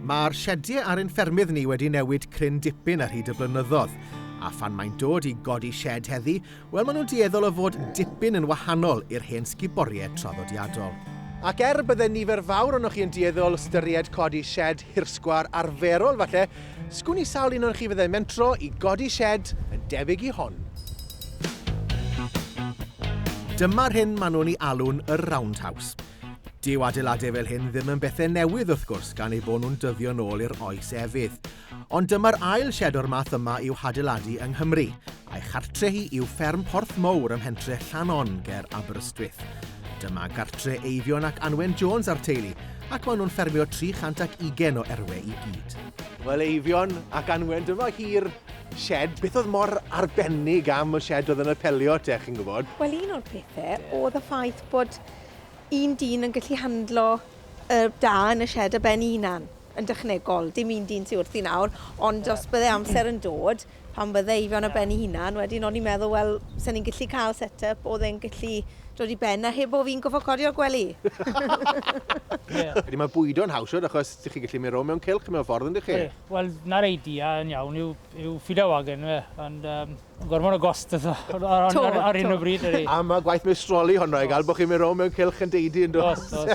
Mae'r siediau ar ein ffermydd ni wedi newid cryn dipyn ar hyd y blynyddoedd, a phan mae'n dod i godi sied heddi, wel maen nhw'n dueddol o fod dipyn yn wahanol i'r hen sguboriau traddodiadol. Ac er bydde nifer fawr ohonoch chi yn dueddol ystyried codi sied hirsgwar arferol falle, sgwn i sawl un ohonoch chi fyddai'n mentro i godi sied yn debyg i hon. Dyma'r hyn maen nhw'n ei alw'n y 'roundhouse'. Dyw adeiladau fel hyn ddim yn bethau newydd wrth gwrs gan eu bod nhw'n dyddio'n ôl i'r oes efydd. Ond dyma'r ail sied o'r math yma i'w hadeiladu yng Nghymru, a'i chartre hi yw fferm Porth Mowr ym mhentre Llanon ger Aberystwyth. Dyma gartre Eifion ac Anwen Jones a'r teulu, ac maen nhw'n ffermio 320 o erwe i gyd. Wel Eifion ac Anwen, dyma hi'r sied. Beth oedd mor arbennig am y sied oedd yn apelio at e, chi'n gwybod? Wel un o'r pethau oedd y ffaith bod un dyn yn gallu handlo y da yn y sied ar ben ei hunan, yn dechnegol. Dim un dyn sy wrthi nawr, ond yeah. os bydde amser yn dod, pan bydde Eifion yeah. ar ben ei hunan, wedyn o'n i'n meddwl, wel, sa'n ni'n gallu cael set-up oedd e'n gallu dod i ben a heb o fi'n gofod codi o'r gwely. yeah. Ydy mae bwydo'n haws oed, achos ydych chi'n gallu mynd rôl mewn cilch mewn ffordd yn chi? Wel, na'r idea yn iawn yw, yw ffido wagen, fe. Ond, um, Gormod o gost eto. Ar hyn o bryd ydy. Am y gwaith meistroli honno i gael bod chi'n mynd rownd mewn cylch yn deidi yn dod. Os, os.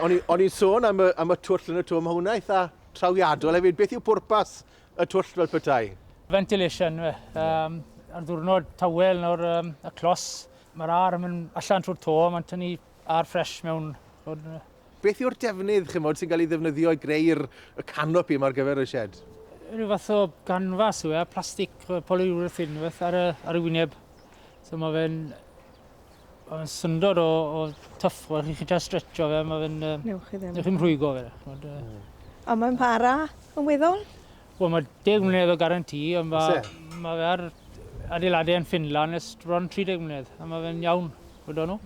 O'n i'n sôn am y, am y twll yn y twm, mae hwnna eitha trawiadol hefyd. Beth yw pwrpas y twll fel petai? Ventilation, fe. Um, ar ddwrnod tawel nawr, um, y clos, mae'r ar yn mynd allan trwy'r to, mae'n tynnu A'r ffres mewn hwn yna. Beth yw'r defnydd, chymod, sy'n cael ei ddefnyddio i greu'r y canopi yma ar gyfer y shed? Rhyw fath o ganfas yw e, plastig polyurethane rhyw fath ar y, ar y wyneb. So mae fe'n Mae'n syndod o, o tuff, o chi da stretcho fe, mae fe'n... Newch chi ddim. Newch chi'n rhwygo fe. Chmod, uh... Ond mae'n para yn weddol? Wel, mae deg mlynedd o garantí, ond mae, mae fe ar adeiladau yn Finland ers bron 30 mlynedd, a mae fe'n iawn, gwyddo nhw.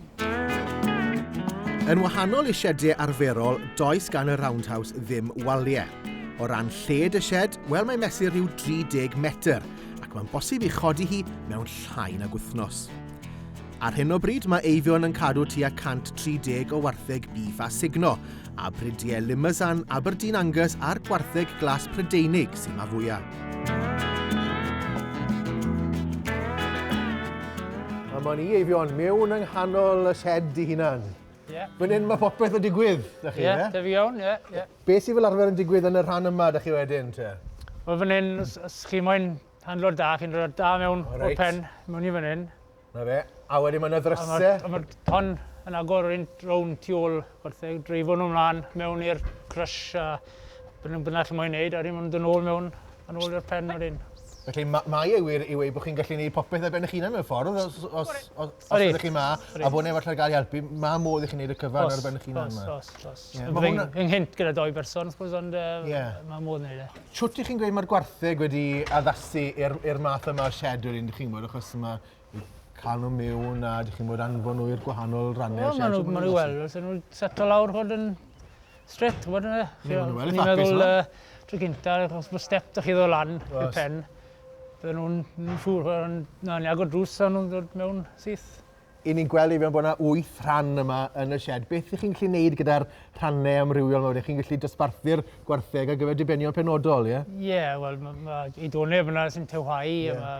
Yn wahanol i siediau arferol, does gan y Roundhouse ddim waliau. O ran lled y sied, wel mae'n mesur rhyw 30 metr, ac mae'n bosib i chodi hi mewn llai nag wythnos. Ar hyn o bryd mae Eifion yn cadw tua 130 o wartheg bîff a sugno, a Prydie Limousin, Aberdeen Angus a'r gwartheg glas Prydeinig sy'n ma fwyaf. A mae'n i Eifion mewn yng nghanol y shed i hunan. Yeah. Fan hyn mae popeth yn digwydd, da chi, yeah, da fi iawn, ie. Yeah, yeah. Be sy'n fel arfer yn digwydd yn y rhan yma, da chi wedyn, te? Wel, fan hyn, os chi moyn handlo da, chi'n rhoi da mewn right. o'r pen, mewn i fan hyn. 'Na fe. A wedyn ma' 'na ddryse. A ma'r tân yn agor rownd rownd tu ôl gwartheg, dreifo nhw mlan mewn i'r crush a be' nw bynnag chi moyn neud a wedyn ma' nw'n do' nôl mewn yn ôl i'r pen wedyn. Felly ma' mae e wir i weud bo' chi'n gallu neud popeth ar ben 'ych hunan mewn ffordd os os os os ydych chi 'ma a bo' neb arall ar gael i helpu ma' modd i chi neud y cyfan ar ben 'ych hunan 'ma. Os os os os. Ie ma' hwnna... Fy nghynt gyda dou berson suppose ond yy... Ie. ...ma' modd neud e. shwt y'ch chi'n gweud ma'r gwartheg wedi addasu i'r i'r math yma o shed wedyn dych chi'n gwbod achos ma' n- ca'l nw miwn a dych chi'n fod anfon nw i'r gwahanol ranne o'r shed... Wel ma' nw ma' nw wel fysa nw'n seto lawr ch'od yn strêt t'bod on'd yfe? Ie ma' nw yn eitha apus yma. Tro gynta achos bo' step 'da chi ddo' lan i'r pen bydden nw'n n- siŵr o fo' yn na ni agor drws a nw'n dod mewn syth. 'y ni'n gweld i fewn bod 'na wyth rhan yma yn y sied. Beth ych chi'n gallu neud gyda'r rhannau amrywiol 'ma wedyn? Chi'n gallu dosbarthu'r gwartheg ar gyfer dibenion penodol, ie? Ie, wel, ma' ma' i done fanna sy'n tywhau, a Ie. ma'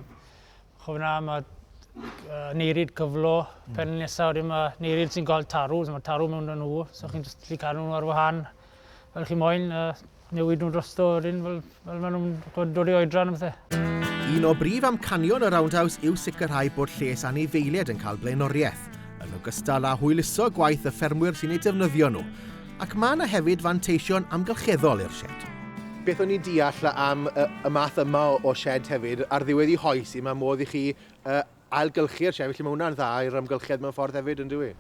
ch'o' fanna ma' uh, neiryd cyflo, hmm. pen nesa wedyn ma' neiryd sy'n cael tarw, so ma' tarw mewn â nhw, so chi'n jyst gallu cadw nhw ar wahân. fel chi moyn, a newid nhw drosto wedyn fel, fel maen nhw'n dod i oedran a bethau. Un o brif amcanion y Roundhouse yw sicrhau bod lles anifeiliaid yn cael blaenoriaeth, yn ogystal â hwyluso gwaith y ffermwyr sy'n ei defnyddio nhw, ac mae yna hefyd fanteision amgylcheddol i'r sied. Beth o'n i'n deall am y math yma o sied hefyd, ar ddiwedd i hoes i, mae modd i chi ailgylchu'r siai, felly mae hwnna'n dda i'r amgylchedd mewn ffordd hefyd, yn dywi?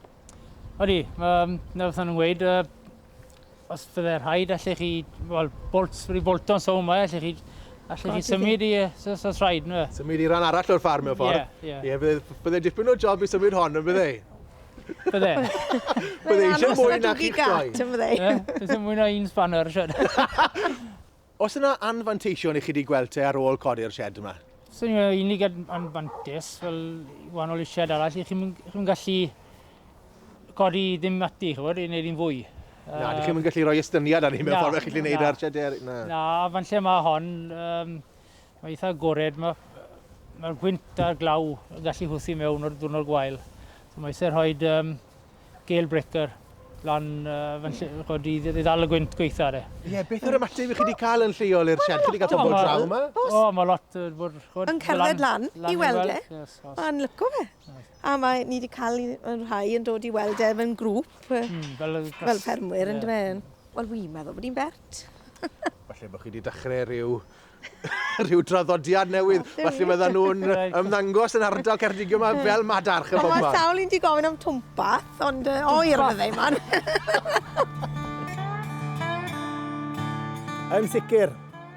Odi, um, na beth nhw'n gweud, uh, os fydde rhaid, allech chi, wel, bolt, wedi bolton so yma, allech chi, allech chi symud i, os oes rhaid, nhw. Symud i ran arall o'r ffarm mewn ffordd. Ie, yeah, ie. Yeah. Yeah, bydde, bydde dipyn o job i symud hon, yn bydde? Bydde. Bydde eisiau mwy na chi'ch doi. Bydde eisiau mwy na un spanner, siarad. Oes yna anfanteision i chi 'di gweld te ar ôl codi'r sied yma? So ni'n meddwl unig anfantes, fel wahanol i sied arall, i chi'n chi gallu codi ddim ati, chi'n gwybod, i wneud un fwy. Na, dych chi'n gallu rhoi estyniad ar ni mewn ffordd, chi'n gallu gwneud ar sied ar... Na, na, fan lle mae hon, um, Mae'n eitha agored, mae'r gwynt a'r glaw yn gallu hwthu mewn o'r dwrnod gwael. So mae eisiau rhoi um, gale breaker lan uh, fan lle, chod, i, i ddal y gwynt gweitha ar e. Ie, yeah, beth yw'r ymateb i chi wedi cael yn lleol i'r siarad? Chi wedi cael pobl draw yma? O, mae lot uh, bod... Chod, yn cerdded lan, lan, i weld e. Yes, yes. Mae'n lyco fe. Yes. A mae ni wedi cael yn rhai yn dod i weld e fe'n grŵp, mm, fel, fel permwyr, yeah. yn dweud. Wel, fi'n meddwl bod hi'n bert. Falle bod chi wedi dechrau rhyw rhyw draddodiad newydd. Felly fydden nhw'n ymddangos yn ardal Ceredigion yma fel madarch y bobman. Mae sawl un di gofyn am twmpath, ond uh, o i'r fydde man. Yn sicr,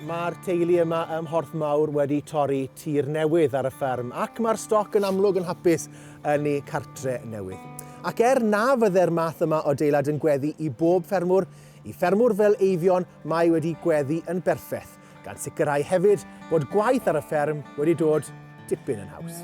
mae'r teulu yma ym Mhorth Mawr wedi torri tir newydd ar y fferm ac mae'r stoc yn amlwg yn hapus yn ei cartre newydd. Ac er na fydde'r math yma o deilad yn gweddi i bob ffermwr, i ffermwr fel Eifion, Mae wedi gweddu yn berffeth, gan sicrhau hefyd bod gwaith ar y fferm wedi dod dipyn yn haws.